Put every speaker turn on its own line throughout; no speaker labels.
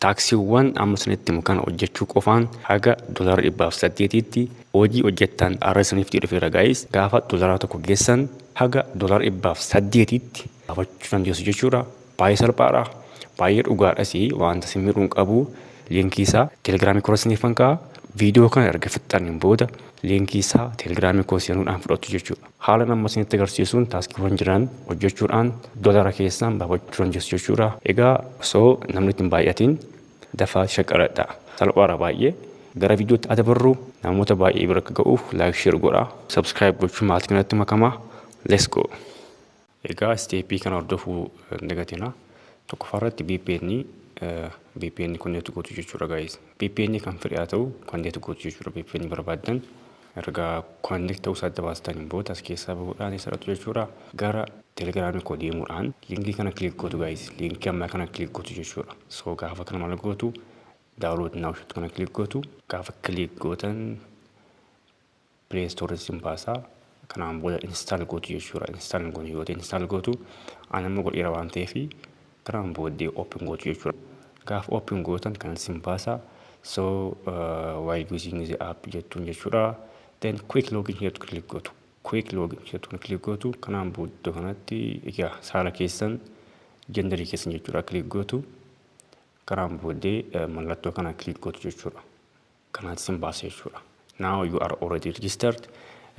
Taaksiiwwan amma isinitti himu kana hojjechuu qofaan haga doolaara dhibbaa fi saddeetiitti hojii hojjettan har'a isiniiftii dhufeera guys gaafa doolaara tokko geessan haga doolaara dhibbaa fi saddeetiitti gaafachuu dandeessu jechuudha baay'ee salphaadha baay'ee dhugaadhas wanta isin miidhuun qabu liinkii isaa telegiraamii kora isiniifan ka'a viidiyoo kana erga fixxaniin booda liinkii isaa telegiraamii koo seenuudhaan fudhattu jechuudha. Haalan amma isinitti agarsiisuun taaskiiwwan jiran hojjechuudhaan dolara keessaan baafachuu dandeessu jechuudha. Egaa osoo namni ittiin baay'atiin dafaa shaqqaradha. Salphaadha baay'ee. Gara viidiyootti haa dabarru. Namoota baay'ee bira akka ga'uuf laayik sheer godhaa. Subscribe gochuun maatii kanatti makamaa. Let's go. Egaa step kana hordofuu hin dagatinaa. Tokkoffaa irratti VPN VPN connect gootu jechuudha guys. VPN kan fedhe haa ta'u connect gootu jechuudha VPN barbaaddan. Erga connect ta'uu isaa adda baastaniin booda as keessaa bahuudhaan isa dhaqxu jechuudha. Gara Telegram koo deemuudhaan linkii kana click gootu guys. Linkii ammaa kana click gootu jechuudha. So gaafa kana maal gootu download now jettu kana click gootu. Gaafa click gootan Play store sin baasa kanaan booda install gootu jechuudha install hin goone yoo ta'e install gootu an amma godheera waan ta'eef kanaan booddee open gootu jechuudha gaaf open gootan kan sin baasa so uh, why using the app jettuun jechuudha then quick login here to click gootu quick login here to click gootu kanaan booddee kanatti egaa saala keessan jendarii keessan jechuudha click gootu kanaan booddee eh, mallattoo kana click gootu jechuudha kanaati isin baasa jechuudha. Now you are already registered.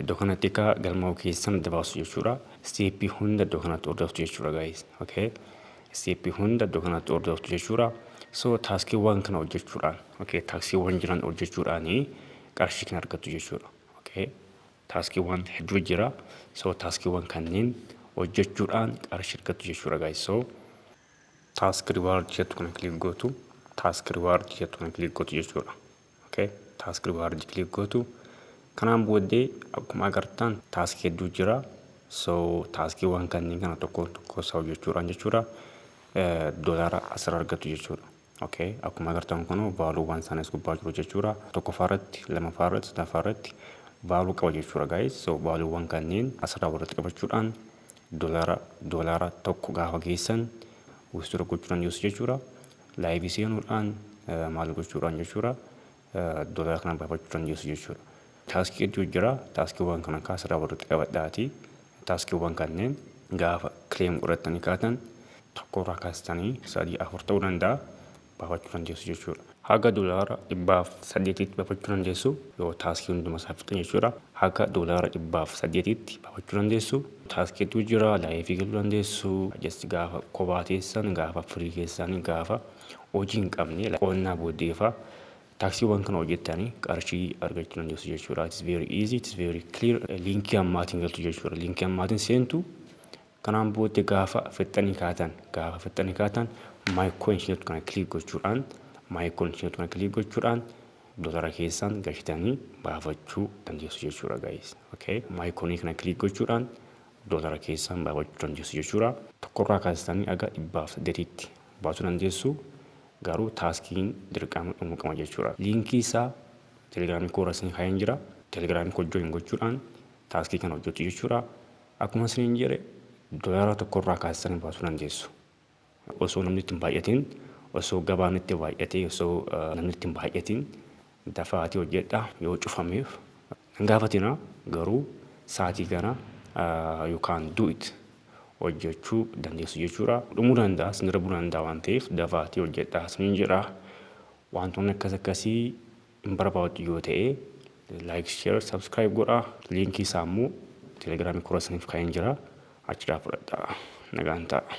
Iddoo kanatti akka galmaa'uu keessan adda baasu jechuudha. Steeppii hunda iddoo kanatti hordoftu jechuudha guys. Okay. Steeppii hunda iddoo kanatti hordoftu jechuudha. So taaskiiwwan kana hojjechuudhaan okay taaksiiwwan jiran hojjechuudhaan qarshii kan argattu jechuudha. Okay. Taaskiiwwan hedduu jira. So taaskiiwwan kanneen hojjechuudhaan qarshii argattu jechuudha guys. So Task reward jettu kana click gootu. Task reward jettu kana click gootu jechuudha. Okay. Task reward click gootu. Kanaan booddee akkuma agartan task hedduu jira. So taaskiiwwan kanneen kana tokkoon tokkoo isaa hojjechuudhaan jechuudha doolaara asirra argattu jechuudha. ok akkuma agartan kun value waan sana is gubbaa jiru jechuudha tokkoffaa irratti lamaffaa irratti sadaffaa irratti value qaba jechuudha guys so value waan kanneen asirraa walitti qabachuudhaan dolara dolara tokko gaafa geessan withdraw gochuudhaan dhiyeessu jechuudha live seenuudhaan maal gochuudhaan jechuudha Doolaara kana baafachuu dandeessu jechuudha. Taaskii hedduu jira. Taaskiiwwan kana kaa sirraa walitti qabadhaati. Taaskiiwwan kanneen gaafa kileem godhattanii kaatan tokkorraa kaastanii sadii afur ta'uu danda'a baafachuu dandeessu jechuudha. Haga doolaara dhibbaaf saddeetitti baafachuu dandeessu yoo taaskii hunduma isaa fixan jechuudha. Haga doolaara dhibbaaf saddeetitti baafachuu dandeessu. Taaskii hedduu jira. Laayifii galuu dandeessu. Just gaafa kophaa teessan, gaafa firii keessaanii, gaafa hojii hin qabne qonnaa booddee faa taaksiiwwan kana hojjettanii qarshii argachuu dandeessu jechuudha. It's very easy, it's very clear. Liinkii ammaatiin galtu jechuudha. Liinkii ammaatiin seentu kanaan booddee gaafa fixxanii kaatan gaafa fixxanii kaatan my coins jettu kana kiliik gochuudhaan my coins jettu kana kiliik gochuudhaan dolara keessaan gashitanii baafachuu dandeessu jechuudha guys. Okay. My coin kana kiliik gochuudhaan dolara keessaan baafachuu dandeessu jechuudha. Tokkorraa kaastanii aga dhibbaaf saddeetitti baasuu dandeessu garuu taaskiin dirqama dhumuu qaba jechuudha. Liinkii isaa telegiraamii koorra isin kaa'een jira. Telegiraamii koo join gochuudhaan taaskii kana hojjettu jechuudha. Akkuma isiniin jedhe doolaara tokkorraa kaasisanii baasuu dandeessu. Osoo namni itti hin baay'atiin, osoo gabaan itti baay'atee, osoo namni itti hin baay'atiin Dafaatii hojjedhaa yoo cufameef nan gaafatinaa garuu saatii kana you can do it hojjechuu dandeessu jechuudha. Dhumuu danda'a isin darbuu danda'a waan ta'eef dafaatii hojjedhaa isiniin jedha. Waantoonni akkas akkasii hin barbaaddu yoo ta'e like share subscribe godha. Liinkii isaa immoo telegiraamii kora isiniif kaa'een jira achiraa fudhadhaa nagaan ta'a.